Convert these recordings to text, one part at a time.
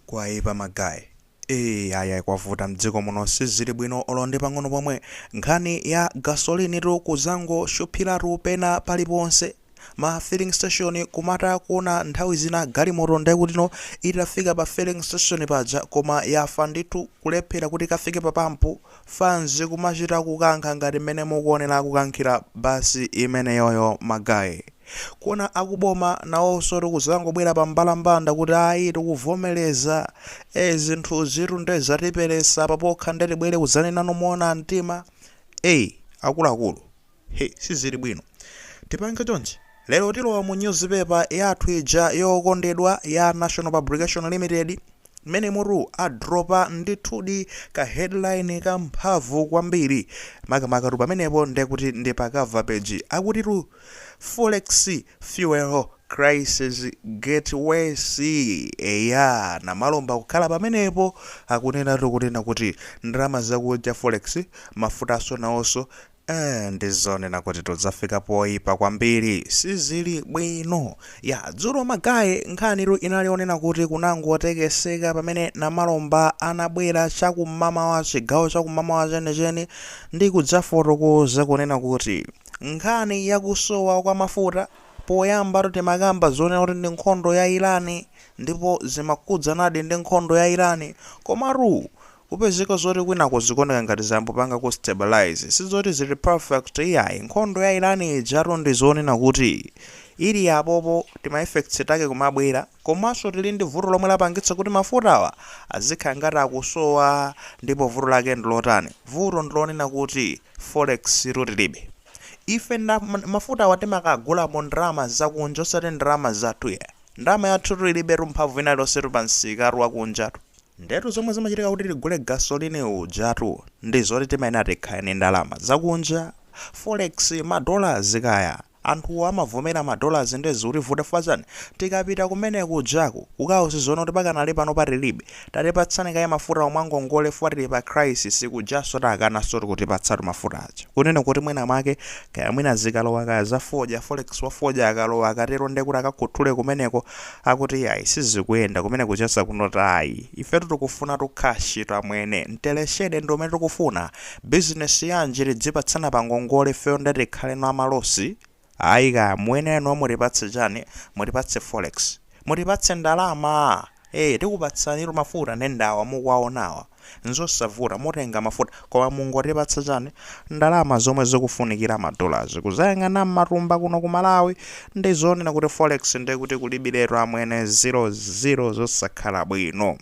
Kwaipa ma guy ee ayi kwavuta mdziko muno sizili bwino olo ndi pang'ono pomwe nkhani ya gasoline tu kuzangoshuphilatu pena paliponse ma filling station kumatha kuona nthawi zina galimoto ndekutino itafika pa filling station paja koma yafa ndithu kulephela kuti ikafike pa pump fanz kumachita kukankha ngati mmene mukuonera akukankhira bus imeneyoyo ma guy. Kuona akuboma nawonsotu kudzangobwera pa mbalambanda kuti ayi tikuvomereza ee zinthuzitu nde zatiperesa apa pokha nde tibwere kudzanenano moona mtima ee akuluakulu. Hi sizili bwino tipange chonchi lero tilowa mu news paper yathu ija yokondedwa ya National Publication Limited mmenemotu adropa ndithudi ka headline ka mphamvu kwambiri makamaka tu pamenepo ndekuti ndi pa cover page akuti tu forex fuel crisis get worse eya Namalomba kukhala pamenepo akunena tu kunena kuti ndalama zakunja forex mafutaso naoso Eeh ndizonena kutitu zafika poipa kwambiri sizili bwino. Yah dzulo ma guy nkhanitu inali yonena kuti kunangotekeseka pamene Namalomba anabwera chakum'mamawa chigawo chakum'mamawa chenicheni ndi kudzafotokoza kunena kuti nkhani ya kusowa kwa mafuta poyambatu timakamba zonena kuti ndi nkhondo ya Iran ndipo zimakhudzanadi ndi nkhondo ya Iran komatu Kupezeka zoti kwinako zikuoneka ngati zangopangako stabilize sizoti zili perfect iyayi, nkhondo ya Iran ijatu ndi zonena kuti ili apopo tima effects take kumabwera komanso tili ndi vuto lomwe lapangitsa kuti mafutawa azikhala ngati akusowa ndipo vuto lake ndi lotani? Vuto ndi lonena kuti forex tu tilibe. Ife mafutawa timakagula mu ndalama zakunja osati ndalama zathu iyayi. Ndalama yathutu ilibetu mphamvu ina iliyonsetu pa msikatu wakunjatu. Ndiyetu zomwe zimachitika kuti tigule gasoline ujatu ndi zoti timayenera tikhale ndi ndalama zakunja, forex, ma dollars kaya. Anthuwo amavomera ma dollars ndiye zikutivuta chifukwa chani? Tikapita kumene kujaku kukawauza zonena kuti pakanali panopa tilibe, tatipatsani kaye mafutawo mwangongole chifukwa tili pa crisis, kujansotu akanansotu kutipatsatu mafuta aja. Kunena kuti mwina mwake kaya mwina zikalowa kaya za fodya, forex wa fodya akalowa akatero ndiye kuti akakhuthule kumeneko akuti iyayi sizikuyenda kumene kucheza kunotu ayi ifetu tikufunatu cash tu amwene mteleshede ndi umene tikufuna business yanji tidzipatsana pa ngongole ifeyo nde tikhaleno amalosi ayi kaya muyenera inuyo mutipatse chani mutipatse forex mutipatse ndalama ee tikupatsanitu mafuta nde ndawa mukuwaonawa nzosavuta mutenga mafuta koma mungotipatsa chani ndalama zomwe zikufunikira ma dollars kuzayang'ana mmatumba kuno ku malawi nde zonena kuti forex nde kuti kulibiletu amwene zo zo zosakhala bwino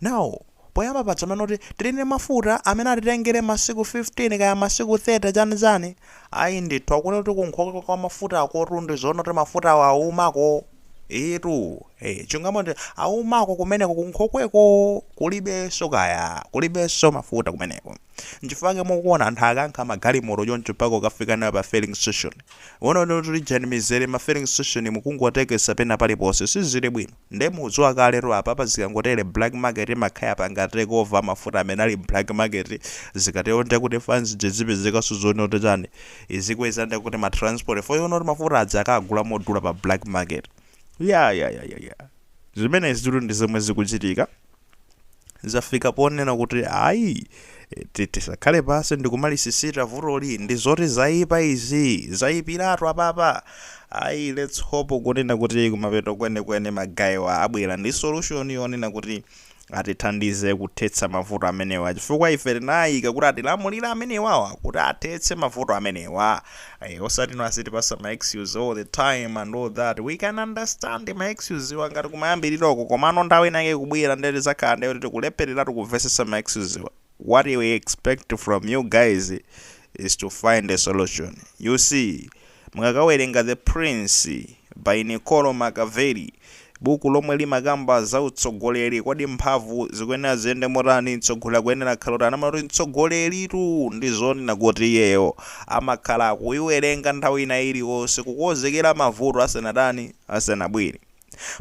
now poyamba paja amanena kuti tili ndi mafuta amene atitengere masiku 15 kaya masiku 30 chani chani Ayi ndithu akunena kuti kunkhokwe kwa mafutakotu ndi zoona kuti mafutawo awumako? Eetu, ee chilungamo ndi awumako kumeneko kunkhokweko kulibenso kaya, kulibenso mafuta kumeneko. N'chifukwa chake mukuona anthu akankha magalimoto choncho mpaka kukafika nayo pa filling station. Uwona kuti ijani mizere m'ma filling station'mu kungotekesa pena paliponse, sizili bwino. Nde mukudziwa kalero apapa zikangotere black market imakhala yapanga take over mafuta amene ali mblack market zikatero ndekuti fans ija izipezekanso zoona kuti chani izikweza ndekuti ma transport fare yoona kuti mafuta aja akagula modula pa black market ya ya ya ya ya zimenezitu ndi zomwe zikuchitika. zafika ponena kuti ayi ti- tisakhale pansi ndikumalisisita vutoli ndi zoti zayipa izi zayipiratu apapa ayi let's hope kunena kuti kumapeto kwenikweni magayiwa abwera ndi solution yonena kuti atithandize kuthetsa mavuto amenewa chifukwa ife tinawaika kuti atilamulire amenewawa kuti athetse mavuto amenewa Osati no azitipasa ma excuse all the time and all that, we can understand ma excuse wa ngati kumayambiliro ko komano nthawi ina yake ikubwera nde tizakhala nde kuti tikulephereratu kumvesesa ma excuse wa, what we expect from you guys is to find a solution, you see mukakawerenga The Prince by Niccolo Machiavelli, Buku lomwe limakamba za utsogoleri kodi mphamvu zikuyenera ziyende motani mtsogoleri akuyenera akhale otani amanena kuti mtsogoleritu ndi zonena kuti iyeyo amakhala akuiwerenga nthawi ina iliyonse kukonzekera mavuto asanatani asanabwere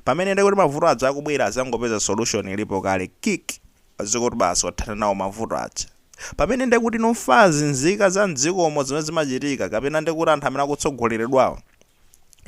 pamene ndekuti mavuto aja akubwera azangopeza solution ilipo kale kikk azikuti basi wathana nawo mavuto aja pamene ndekuti no mafans nzika za mdzikomo zimene zimachitika kapena ndekuti anthu amene akutsogoleredwawo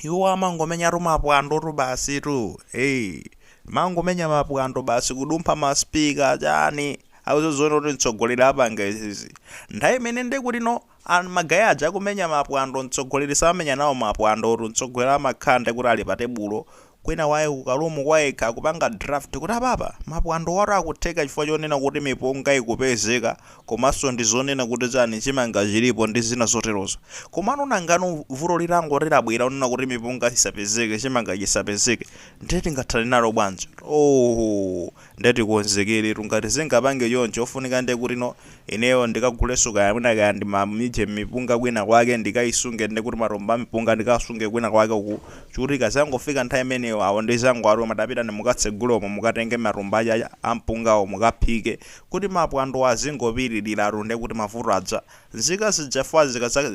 iwo amangomenyatu mapwandotu basitu hey. mangomenya mapwando basi kudumpha maspika chani sakuziona kuti mtsogoleri apanga izizi nthawi imene nde kuti no an- magayi aja akumenya mapwando mtsogoleri samenya nawo mapwandotu mtsogoleri amakhala nde kuti ali pa tebulo kwina kwake ku karoom kwayekha akupanga draft kuti apapa mapwando watu akutheka chifukwa chonena kuti mipunga ikupezeka komanso ndi zonena kuti chani chimanga chilipo ndi zina zoterozo komano nangano vuto litangoti labwera lonena kuti mipunga isapezeke chimanga chisapezeke ndiye tingathane nalo bwanji? oohoo! nde tikonzekeletu ngati zingapange choncho ofunika nde kuti no ineyo ndikaguleso kaya mwina kaya ndi ma mijeni mipunga kwina kwake ndikaisunge nde kuti matumba ampunga ndikawasunge kwina kwake uku ndikuti ikazangofika nthawi imeneyo awo ndizangowatuma tapitani mukatsegule umo mukatenge matumba aja ampungawo mukaphike kuti mapwandowo azingopitilila nde kuti mavuto aja nzika zija chifukwa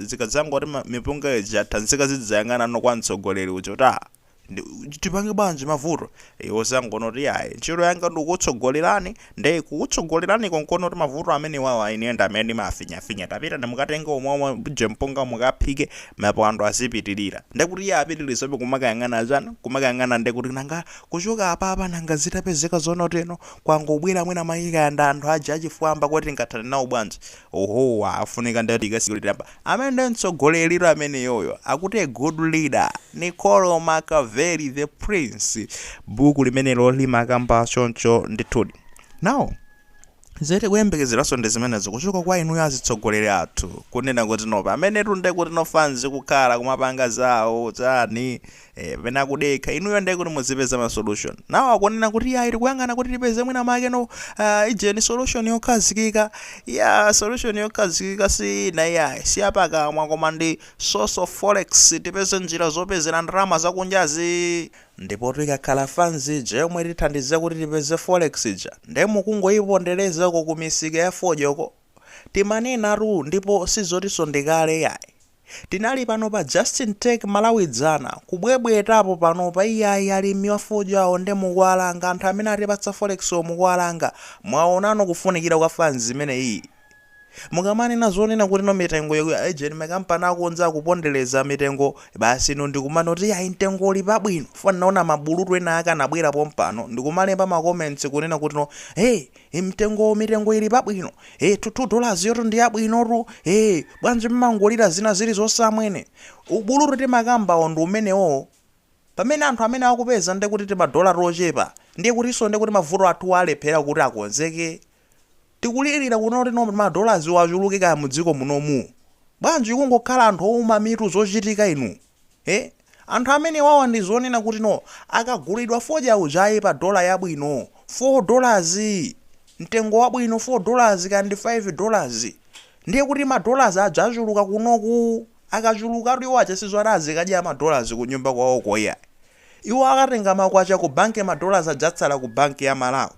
zikadzangoti mipunga ija yatha, nzika zidzayang'ana no kwa mtsogoleri uja kuti aah Ndi- tipange bwanji mavuto iwo angonena kuti yayi ntchito yanga ndikukutsogolerani nde kukutsogolerani konkono kuti mavuto amene wawa ine ndi amene ndimafinyafinya tapitani mukatenge umo mujeni mpunga mukaphike mapwando azipitirira nde kuti iye apitirizabe kumakayang'ana chani kumakayang'ana nde kuti nanga kuchoka apapa nanga zitapezeka zonena kuti eh no kwangobwera mwina mwaika yamba anthu aja achifwamba kuti tingathane nawo bwanji oho ofunika nde tikasikilitamba Amene ndi mtsogoleritu ameneyoyo akuti a good leader Niccolo Machiavelli the prince buku limenelo limakamba choncho ndithudi now zimene tikuyembekezeraso ndi zimenezo kuchoka kwa inuyo azitsogoleri athu kunena kuti no paja menetu ndekuti no fanzi kukhala kumapanga zawo chani Eh, pena kudekha inuyo ndiye kuti muzipeza ma solution nawo akunena kuti yayi tikuyang'ana kuti tipeze mwina make no uh, ijeni solution yokhazikika ya solution yokhazikika si ina iyayi si yapakamwa koma ndi source of forex tipeze njira zopezera ndalama zakunjazi ndipo ikakhala fanzi ija yomwe itithandiza kuti tipeze forex ija ndiye mukungoyipondereza ku misika ya fodyoko timanenatu ndipo sizotiso ndikale yayi Tinali pano pa Just In Talk Malawi dzana, kubwebwetapo panopa iyayi alimi a fodya awo mukuwalanga, anthu amene atipatsa forex wo mukuwalanga, mwawonano kufunikira kwa fans imeneyii? Mukamanena zonena kuti no mitengoyo ijeni ma company akunja akupondeleza mitengo basi inu ndikumanena kuti iyayi mtengo uli pabwino chifukwa ndinaona ma bulutu enaake anabwera pompano ndikumalemba ma comments kunena kuti no hey e mtengowo mitengo ili pabwino e 2 dollars yotu ndi yabwinotu e bwanji mumangolira zina zilizonse amwene ubulutu timakambawo ndi umenewowo pamene anthu amene akupeza ndi kuti timadola tochepa ndiye kutinso ndi kuti mavuto athu alephera kukonzeka tikulirira kunena kuti no madolaziwo achuluke kaya mu dziko munomu bwanji kungokhala anthu ouma mitu zochitika inu ee anthu amenewawa ndi zonena kuti no akagulidwa fodya uja iyayi pa dollar yabwino 4 dollars mtengo wabwino 4 dollars kaya ndi 5 dollars ndiye kuti ma dollars aja achuluka kunoku akachulukatu iwo aja sizoti azikadya ma dollars ku nyumba kwawoko iyayi iwo akatenga makwacha ku bank ma dollars aja atsala ku bank ya malawi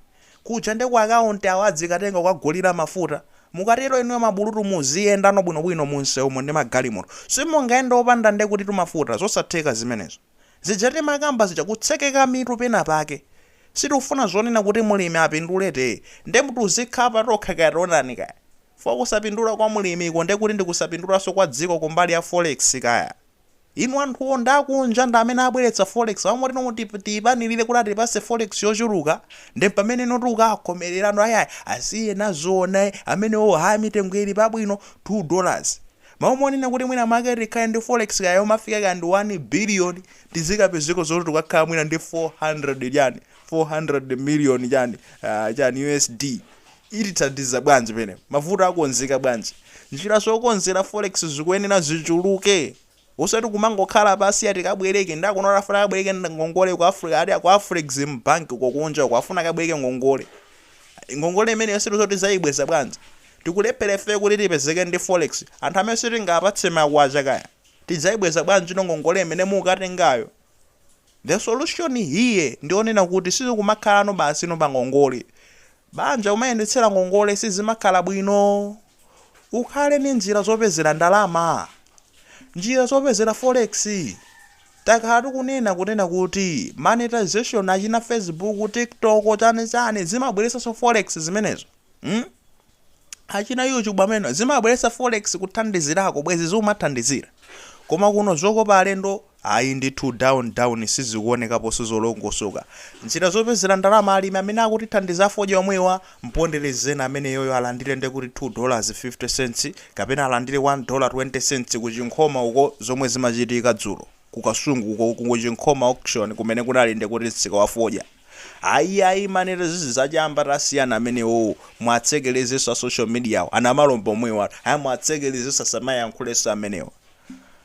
Kuja nde ku account awo adzikatenga kukagulira mafuta. Mukatero inuyo mabulutu muziyendano bwinobwino mu msewumo ndi magalimoto. Simungayende opanda ndekutitu mafuta. Zosatheka zimenezo. Zija timakamba zija kutsekeka mitu pena pake. Sitikufuna zonena kuti mlimi apindule tee. Nde tizikhala tokha kaya tionani kaya. Chifukwa kusapindula kwa mlimi ko ndekuti ndi kusapindulanso kwa dziko kumbali ya forex kaya. Inu anthuwo ndi akunja ndi amene abweretsa forex awo moti no tiwapanilire kuti atipase forex yochuluka nde pamene no tikukawakomelera no ai asiyeni aziona amenewo ha mitengo ili pabwino two dollars Malo monena kuti mwina mwake tikhale ndi forex kaya yomafika kaya ndi one billion tizikapezeko zoti tikukakhala mwina ndi 400 chani 400 million chani ah chani USD Itithandiza bwanji penepa mavuto akonzeka bwanji? Njira zokonzera forex zikuyenera zichuluke osati kumangokhala pasi ati kabwereke ndakuona afuna akabwereke ngongole ku Africa ati ku Afrexim bank uko kunja uko afuna akabwereke ngongole. Ngongole imeneyo sitikudziwa kuti tidzayibweza bwanji. Tikulephera ifeyo kuti tipezeke ndi forex. Anthu amene sitingawapatse makwacha kaya tidzayibweza bwanjino ngongole imene mukukatengayo? The solution here ndi yonena kuti sizikumakhalano basino pa ngongole. Banja umayendetsera ngongole sizimakhala bwino. Ukhale ndi njira zopezera ndalama. Njira zopezera forex takhala tikunena kunena kuti monetization achina facebook, tiktok chani chani zimabweretsanso forex zimenezo. Hmm? Achina YouTube amene zimabweretsa forex kuthandizirako bwezi ziumathandizira. Koma kuno zokopa alendo Ayi ndithu down down sizikuonekaponso zolongosoka. Njira zopezera ndalama alimi amene akutithandiza fodya omwewa, mponderezeni ameneyoyo alandire nde kuti two dollars fifty cents kapena alandire one dollar twenty cents ku Chinkhoma uko zomwe zimachitika dzulo ku Kasungu uko ku Chinkhoma auction kumene kunali nde kuti msika wa fodya. Ayi ayi manerozizi za chamba tasiyani amenewowo muwatsekelezenso a social mediawo a Namalomba omwewo anu ayi muwatsekelezenso asamayankhulenso amenewo.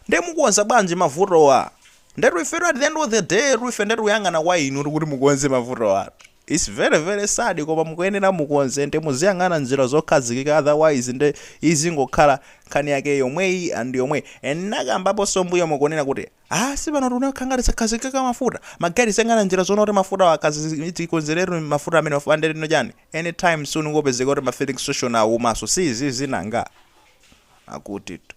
Nde mukonza bwanji mavutowa? Ndetu ifetu at the end of the day tu ife nde tikuyang'ana kwa inutu kuti mukonze mavutowa. It's very very sad koma mukuyenera mukonze nde muziyang'ana njira zokhazikika otherwise nde izingokhala nkhani yake yomweyi and yomweyi. And ndinakambaponso m'mbuyomo kunena kuti ah sipano tikunakhala ngati takhazikika mafuta. Ma guy tiziyang'ana njira zonena kuti mafutawa akhazi tikonzeretu mafuta amenewa fupa nde lino chani anytime soon kungopezeka kuti ma filling station awumanso si izizi nanga? Akutitu.